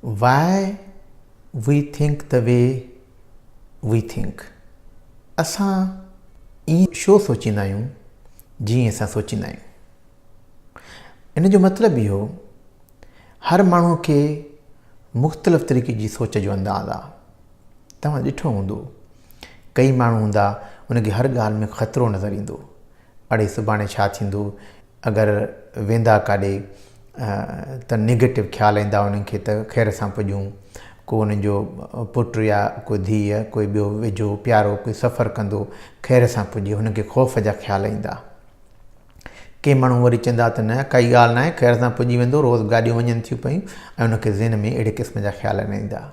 Why We Think The Way We Think، اسان ائين ڇو سوچيندا آهيون جيئن اسان سوچيندا آهيون؟ ان جو مطلب اهو هر ماڻهو کي مختلف طريقي جي سوچ جو انداز آهي. توهان ڏٺو هوندو ڪئي ماڻهو هوندا ان کي هر ڳالهه ۾ خطرو نظر ايندو اڙي سڀاڻي ڇا ٿيندو اگر ويندا ڪاڏي ته نيگيٽو خيال ايندا انهن کي ته خير سان پڄون. ڪو انهن جو پٽ يا ڪو ڌيء يا ڪو ٻيو ويجهو پيارو ڪو سفر ڪندو خير سان پڄي هن کي خوف جا خيال ايندا. ڪي ماڻهو وري چئندا ته نه ڪائي ڳالهه ناهي خير سان پڄي ويندو روز گاڏيون وڃن ٿيون پيون ۽ ان کي ذهن ۾ اهڙي قسم جا خيال نه ايندا.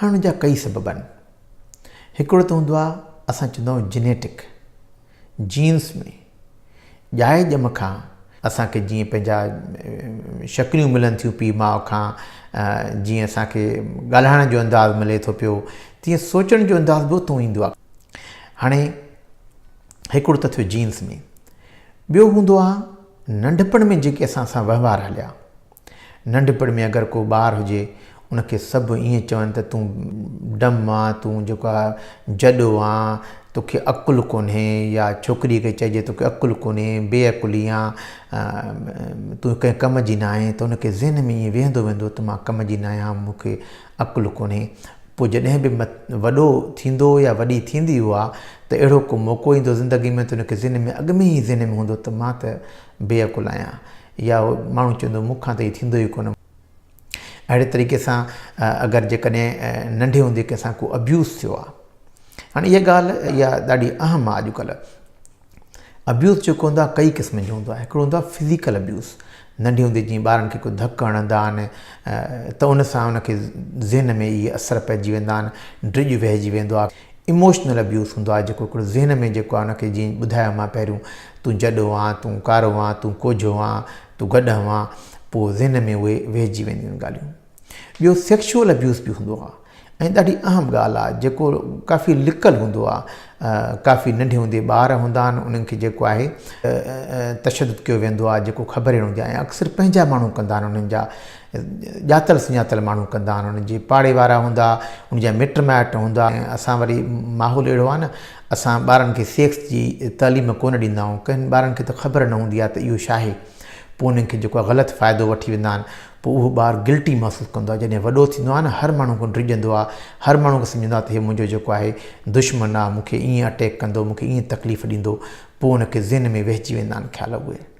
هاڻي ان جا ڪئي سبب آهن. هڪڙو ته هوندو آهي اسان چوندا آهيون جينيٽڪ، جينز ۾، ڄائي ڄم کان اسان کي جيئن پنهنجا شڪليون ملن ٿيون پيء ماء کان، جيئن اسان کي ڳالهائڻ جو انداز ملي ٿو پيو، تيئن سوچڻ جو انداز به اتون ايندو آهي. هاڻي هڪڙو ته ٿيو جينز ۾، ٻيو هوندو آهي ننڍپڻ ۾ جيڪي اسان سان وهنوار هليا، ننڍپڻ ۾ اگر ڪو ٻار هجي، ان کي سڀ ائين چون ته تون ڊم آن، تون جيڪو آ جڏو آن، توکي عقل ڪونهي يا ڇوڪريء کي چئجي توکي عقل ڪونهي، بي عقلي آن، تون ڪنهن ڪم جي ناهين ته ان کي ذهن ۾ ائين ويهندو ويندو ته مان ڪم جي ناهيان ها مون کي عقل ڪونهي. پوء جڏهن به وڏو ٿيندو يا وڏي ٿيندي هو آ ته اهڙو ڪو موقعو ايندو زندگي ۾ ته ان کي ذهن ۾ اڳ ۾ ائين ذهن ۾ هوندو ته مان ته بي عقل آهيان. يا اهو ماڻهو چوندو مون کان ته هي ٿيندو ئي ڪونه. اهڙي طريقي سان اگر جيڪڏهن ننڍي هوندي ڪنهن سان ڪو ابيوز ٿيو آهي. هاڻي اها ڳالهه اها ڏاڍي اهم آهي اڄڪلهه. ابيوز جيڪو هوندو آهي ڪئي قسمن جو هوندو آهي. هڪڙو هوندو آهي فزيڪل ابيوز. ننڍي هوندي جيئن ٻارن کي ڪو ڌڪ هڻندا آهن ته ان سان ان کي ذهن ۾ اهي اثر پئجي ويندا آهن. ڊڄ وهجي ويندو آهي. ايموشنل ابيوز ھوندو آھي جيڪو ھڪڙو ذھن ۾ جيڪو آھي ان کي جيئن ٻڌايو مان پهريون تون جڏو آن تون ڪارو آن تون ڪوجھو آن تون گڏھه آن پوء ذھن ۾ اھي ويھجي وينديون آھن ڳالھيون ٻيو سيڪشوئل ابيوز به ھوندو آھي ۽ ڏاڍي اھم ڳالھه آھي جيڪو ڪافي لڪل ھوندو آھي ڪافي ننڍي ھوندي ٻار ھوندا آھن انھن کي جيڪو آھي تشدد ڪيو ويندو آھي جيڪو خبر ئي نه ھوندي آھي ۽ اڪثر پنھنجا ماڻھو ڪندا آھن انھن جا ڄاتل سڃاتل ماڻهو ڪندا آهن انهن جي پاڙي وارا هوندا انهن جا مٽ مائٽ هوندا ۽ اسان وري ماحول اهڙو آهي نه اسان ٻارن کي سيڪس جي تعليم ڪونه ڏيندا آهيون ڪن ٻارن کي ته خبر نه هوندي آهي ته اهو ڇا آهي پوء انهن کي جيڪو آهي غلط فائدو وٺي ويندا آهن پوء اهو ٻار گلٽي محسوس ڪندو آهي جڏهن وڏو ٿيندو آهي نه هر ماڻهو کان ڊڄندو آهي هر ماڻهو کي سمجهندو آهي ته هي منهنجو جيڪو آهي دشمن آهي مون کي ائين اٽيڪ ڪندو مون کي ائين تڪليف ڏيندو پوء ان کي ذهن ۾ وهجي ويندا آهن خيال اهي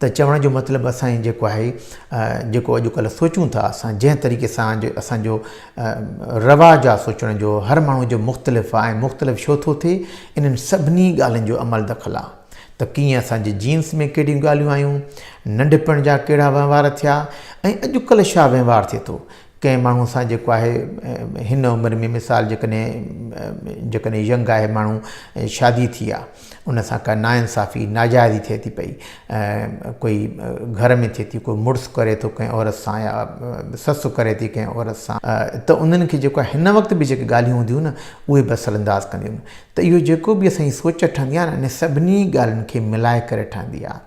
ته چوڻ جو مطلب اسان جي جيڪو آهي جيڪو اڄ ڪلهه سوچون ٿا اسان جنهن طريقي سان اسان جو رواج آهي سوچڻ جو هر ماڻهو جو مختلف آهي ۽ مختلف شو ٿو ٿئي انهن سڀني ڳالهين جو عمل دخل آهي ته ڪيئن اسان جي جينس ۾ ڪهڙيون ڳالهيون آيون ننڍپڻ جا ڪهڙا وهنوار ٿيا ۽ اڄ ڪلهه شا وهنوار ٿئي ٿو ڪنهن ماڻهو سان جيڪو آهي هن عمر ۾ مثال جيڪڏهن جيڪڏهن ينگ آهي ماڻهو شادي ٿي آهي ان سان ڪا نا انصافي ناجائزي ٿئي ٿي پئي ڪوئي گهر ۾ ٿئي ٿي ڪوئي مڙس ڪري ٿو ڪنهن عورت سان يا سس ڪري ٿي ڪنهن عورت سان ته انهن کي جيڪو هن وقت به جيڪي ڳالهيون هونديون نه اهي به اثر انداز ڪنديون ته اهو جيڪو به اسان جي سوچ ٺهندي آهي نه ان سڀني ڳالهين کي ملائي ڪري ٺهندي آهي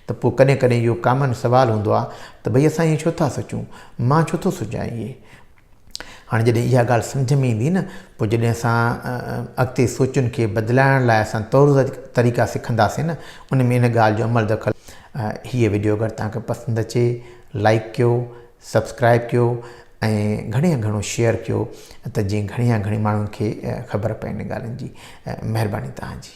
ته پوء ڪڏهن ڪڏهن اهو ڪامن سوال هوندو آهي ته ڀئي اسان ائين ڇو ٿا سوچون؟ مان ڇو ٿو سوچان ائين؟ هاڻي جڏهن اها ڳالهه سمجهه ۾ ايندي نه پوء جڏهن اسان اڳتي سوچن کي بدلائڻ لاء اسان طور طريقا سکنداسين نه ان ۾ ان ڳالهه جو عمل دخل هيء وڊيو اگر توهان کي پسند اچي لائڪ ڪيو سبسڪرائب ڪيو ۽ گهڻي يا گهڻو شيئر ڪيو ته جيئن گهڻي يا گهڻي ماڻهن کي خبر پئي ان ڳالهين جي مهرباني توهان جي